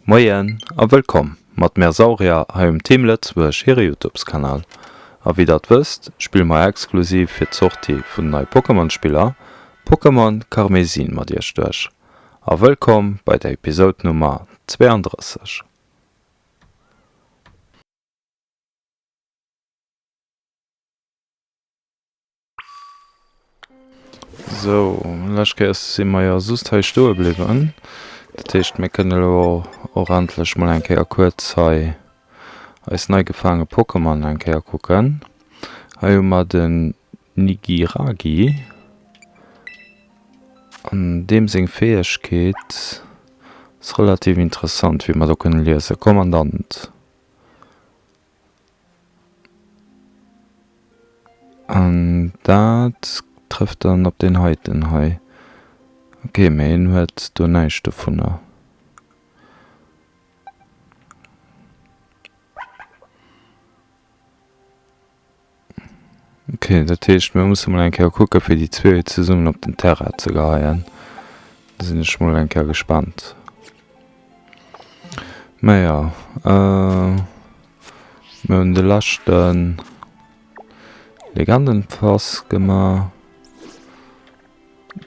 Moien a wëllkomm mat Mère Sauria hei um Team Lëtzebuerg hire Youtubeskanal. A wéi der et wësst, spille mer exklusiv fir d'Sortie vun den neie Pokémon-Spiller Pokémon Karmesin mat iech duerch. A wëllkomm bei der Episode Nummer 32. So, lech Kéiers si mer jo just hei stoe bliwwen. Dat heescht, mir kënne lo och endlech mol eng Kéier kuerz hei eis nei gefaange Pokémon eng Kéier kucken. Hei hu mer den Nigiragi. An deem seng Fäegkeet ass relativ interessant, wéi mer do kënne liesen. Kommandant. An dat trëfft dann op deen heiten hei. Ok, mä hien huet do näischt dovunner. Ok, dat heescht mir musse mol eng Kéier kucke fir déi zwee zesummen op den Terrain ze geheien. Da sinn ech mol eng Kéier gespannt. Naja äh, mir hunn de leschten Legendenpass gemaach.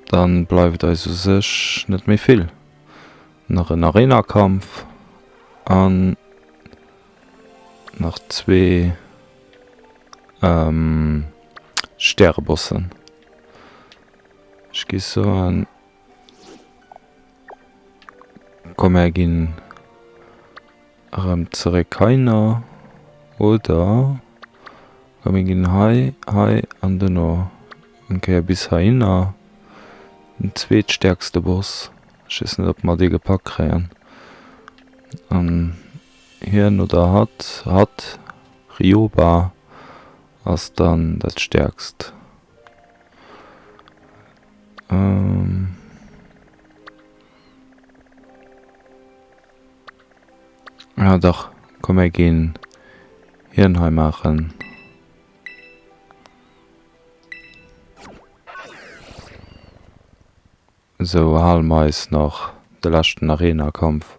Dann bleift eis u sech net méi vill. Nach en Arenakampf an. nach zwee ähm, Stärebossen. Ech gi soen, komm mär ginn erëm zeréck heiner oder komm mir ginn hei, hei an duerno eng Kéier bis heihinner. Den zweetstäerkste Boss, ech weess net, ob mer dee gepackt kréien. Hien oder hatt, hatt, Rioba ass dann dat stäerkst. Ah dach, komm mir ginn hien hei maachen. Sou, halen mer eis nach de leschten Arena-Kampf.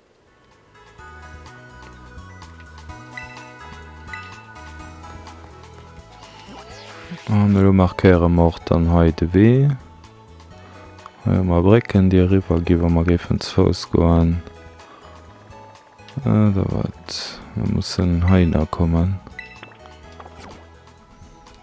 An elo markéiere mer och dann hei de Wee. Hei hu mer Brécken, déi eriwwer ginn, wa mer géifen ze Fouss goen. Äh, da wat? Mir mussen heihinner kommen.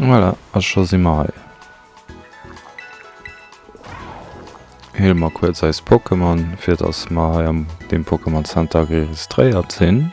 Voilà, a scho si mer hei. Heele mer kuerz eis Pokémon, fir dass mer hei am dem Pokémon Center registréiert sinn.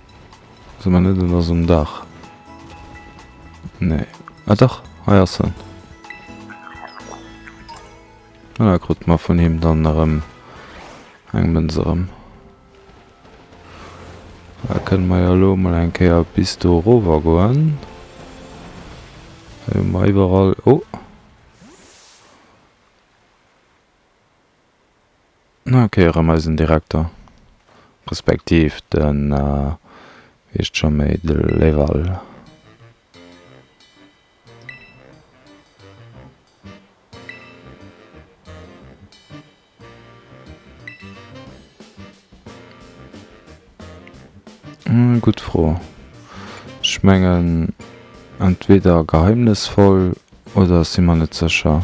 Sou man net en ass um Dach. Nee. Ah dach, hei ass en. Ah, da krut mer vun him dann erëm eng Mënz erëm. Da kënne mer jo elo mol eng Kéier bis do erower goen. Hei hu mer iwwerall, oh! Nach eng Kéier erëm eisen Direkter, respektiv den, wéi heescht scho méi, de Leval. Gutt Fro. Ech mengen entweder geheimnisvoll oder ech si mer net sécher.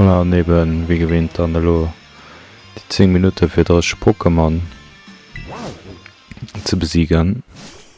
Voilà, an eben, wéi gewinnt, dann elo déi 10 Minutte fir 30 Pokémon ze besiegen.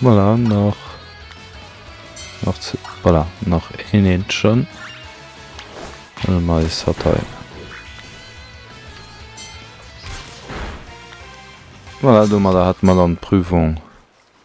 Voilà, nach nach zu, voilà, nach een Entchen. Dann mal ist hat hei. Voilà, du mal da hat mal an Prüfung.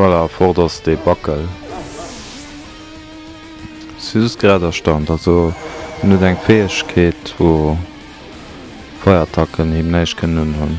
Voilà, fort ass dee Backel. Si just grad erstaunt, also en huet eng Fäegkeet wou Feierattacken him näischt kënnen unhunn.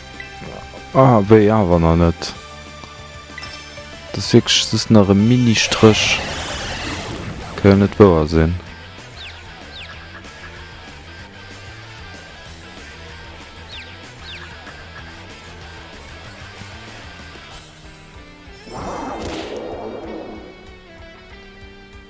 Ah, wéi awer nach net. Dat ass wierklech just nach e Mini-Stréch. Ka jo net wouer sinn.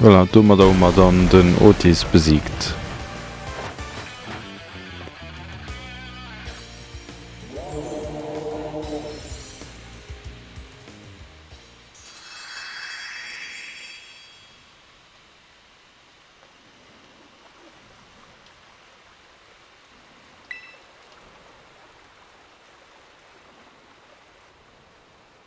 Voilà, domadder hu mer dann den Otis besiegt.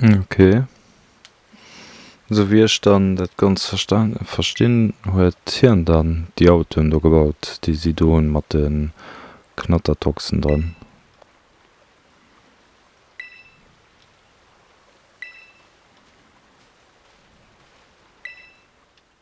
Ok. Esou wéi ech dann dat ganz verstan verstinn, huet hien dann déi Autoen do gebaut, déi si do hunn mat de Knattertoxen dran.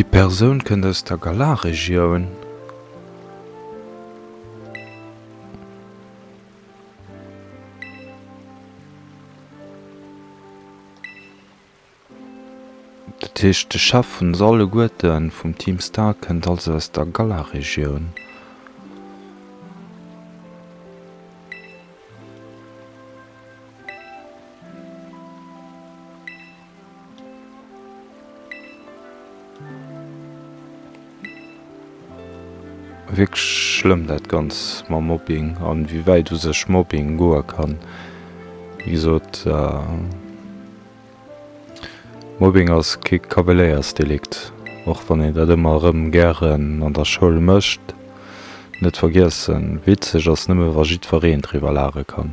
Déi Persoun kënnt aus der Galar-Regioun. Dat heescht, de Chef vun se alleguerten, vum Team Stark, kënnt also aus der Galar-Regioun. Wierklech schlëmm dat Ganzt mam Mobbing an wéi wäit u sech Mobbing goe kann. Wéi gesot, Mobbing ass kee Kabeléiersdelikt, och wann een dat ëmmer erëm gären an der Schoul mécht. Net vergiessen, witzeg ass nëmme wa jiddwereen driwwer laache kann.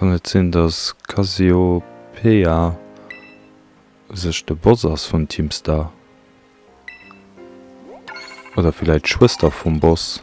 Kann et sinn dass Cassiopeia sech de Boss ass vun Team Star? Oder villäit d'Schwëster vum Boss?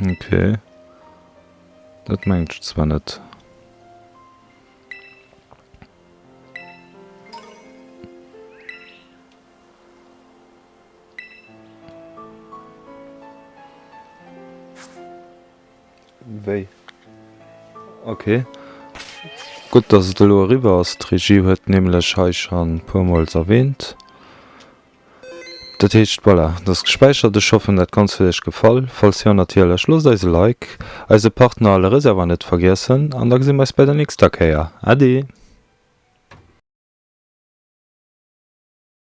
Ok. Dat mengt ech zwar net. Wéi? Ok. Gutt, dass et elo eriwwer ass. D'Regie huet nämlech hei schonn e puermools erwähnt. Dat heescht, voilà, dat ass gespäichert. Ech hoffen, dat Ganzt huet iech gefall. Falls jo, natierlech loosst eis e Like, eise Partner a le Reservoir net vergiessen an da gesi mer eis bei der nächster Kéier. Ade!